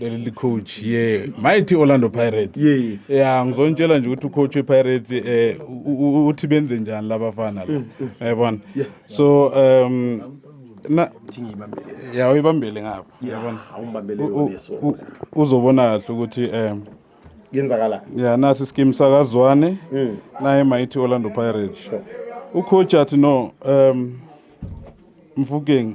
leli licoach ye mighty orlando pirates yes. ya ngizontshela nje ukuthi ucoach wepirates eh uthi benze njani labafana la mm, mm. yabona yeah. so um na ya uyibambele ngapha yabona uzobona kahle ukuthi um yenzakala ya nasi skim sakazwane mm. naye mighty orlando pirates sure. ucoach athi no um mfukeng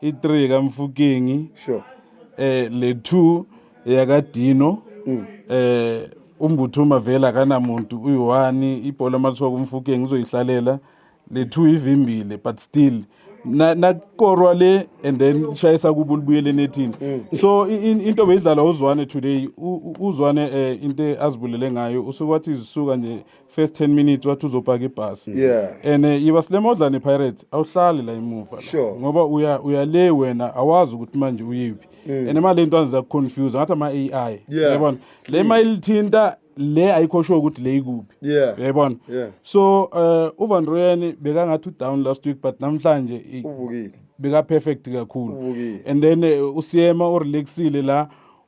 i-3 kamfukingi sure eh le 2 yakadino mm. eh umbuthuma vele akanamuntu uyi-one ibhola mathiwa kumfukengi uzoyihlalela le two ivimbile but still nakorwa le and then ishayisa kubo libuyele enethini mm. so into beyidlala uzwane today uzwane um into azibulele ngayo usuke wathi izisuka nje first 10 minutes wathi uzopaka ibhasi yeah. and eh, yiba silemodlane pirate awuhlali la emuva sure. ngoba uya, uya le wena awazi ukuthi manje uyiphi mm. and imali into azizakuconfuse ngathi ama-ai yeah. yabona le ma ilithinta le ayikho sure ukuthi le ikuphi yeah. yayibona yeah. so uh, eh, uvan royani bekangathi udown last week but namhlanje uvukile beka-perfect kakhulu and then uh, eh, usiyema urelaxile la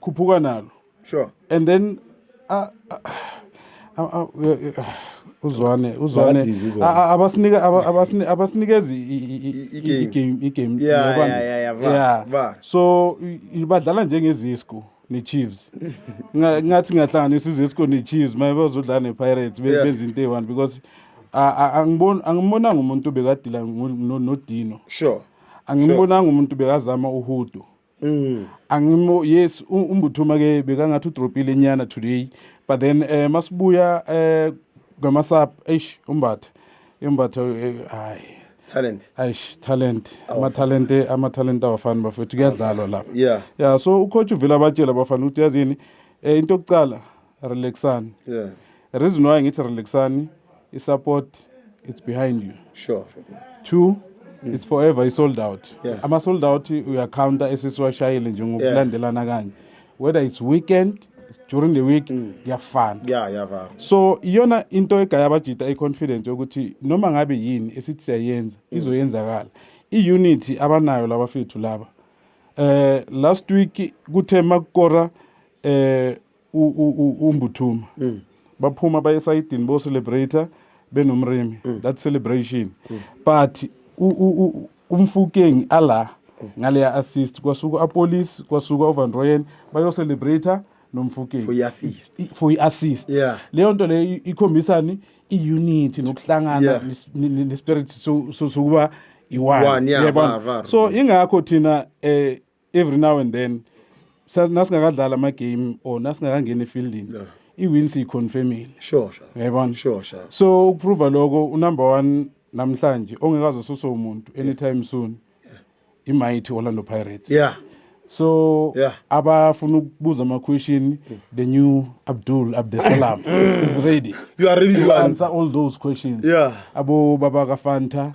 khuphuka nalo sure and then uh, uh, uh, uzwane uzwane abasinika abasinikeza igame igame yabona yeah so ibadlala njengezisku ne-chiefs ngathi ngahlanganisa izisco ne-chiefs maye bazodlala ne-pirates benza into eyi-one because angimbonanga umuntu bekadila nodino sure angimbonanga umuntu bekazama uhudo Mm. angimo yes umbuthuma ke bekangathi udropile nyana today but then eh masibuya eh ngamasap eish umbatha imbatha eh, hayi talent eish talent ama talent ama talent awafani bafethu kuyadlalwa lapha yeah yeah so ucoach uvela batshela bafana ukuthi yazini eh into yokuqala relaxani yeah. reason why ngithi relaxani i-support it's behind you sure two mm. it's forever i-sold out yeah. ama-sold out uyacounta esisiwashayile nje ngokulandelana yeah. kanye whether it's weekend during the week mm. kuyafana mm. yeah, yeah, yeah. so iyona into egaya abajita i-confidence yokuthi noma ngabe yini esithi siyayenza mm. izoyenzakala i-unity abanayo labafethu laba eh last week kuthe makukora eh umbuthuma mm. baphuma baye esayidini bo celebrator benomrimi mm. that celebration mm. but umfukeng ala ngaleya assist kwasuka apolice kwasuka ovan royen bayocelebrator nomfukeng for i-assist leyo nto leyo ikhombisani i-unity nokuhlangana nespirit sokuba i-one so ingakho thina um every now and then sa- nasingakadlali ama-game or nasingakangeni efieldini Yeah. i-win siyiconfirmile sure sure yayibona sure sure so ukuprova lokho unumber one namhlanje ongekazosuswa umuntu anytime soon imighty orlando pirates yeah so Yeah. Mm. abafuna ukubuza ama-question the new abdul abdesalam is ready you are ready to to answer answer all those questions Yeah. abo baba kafanta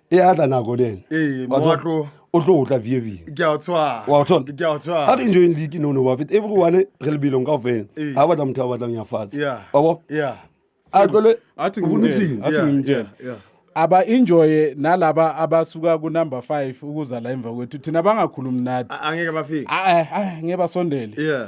e a tla nako le ene Ee, Wa tseba, Moatlo. o tlo o tla vie vie ke a o tshwara Wa o tshwara? ke a o tshwara ha re enjoying league no no wa feta everyone re lebelong ka ofela Ee. ha batla motho a batlang ya fatshe Yeah. wa bo yeah a tlole athi o ngimtshele funutsile. athi Yeah, ngimtshele yeah, yeah. aba enjoye nalaba abasuka ku number 5 ukuza la emva kwethu thina bangakhulumi nathi A- angeke bafike Ah, eh, ah, ngeke basondele yeah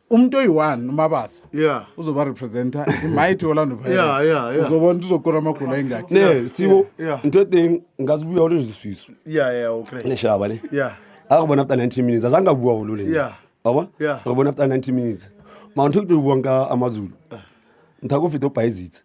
umuntu oyi-one umabasa yeah uzoba representa imighty orlando yeah, yeah, yeah. uzobona ukuthi uzokora amagula engakhi ne sibo yeah. into ething ngazi ubuya ulezisisu yeah yeah okay neshaba le yeah akubona after 90 minutes azange abuwa ulule yeah yabo yeah akubona after 90 minutes mawuthi ukubuka amazulu ah. ngithakufida ubhayizitha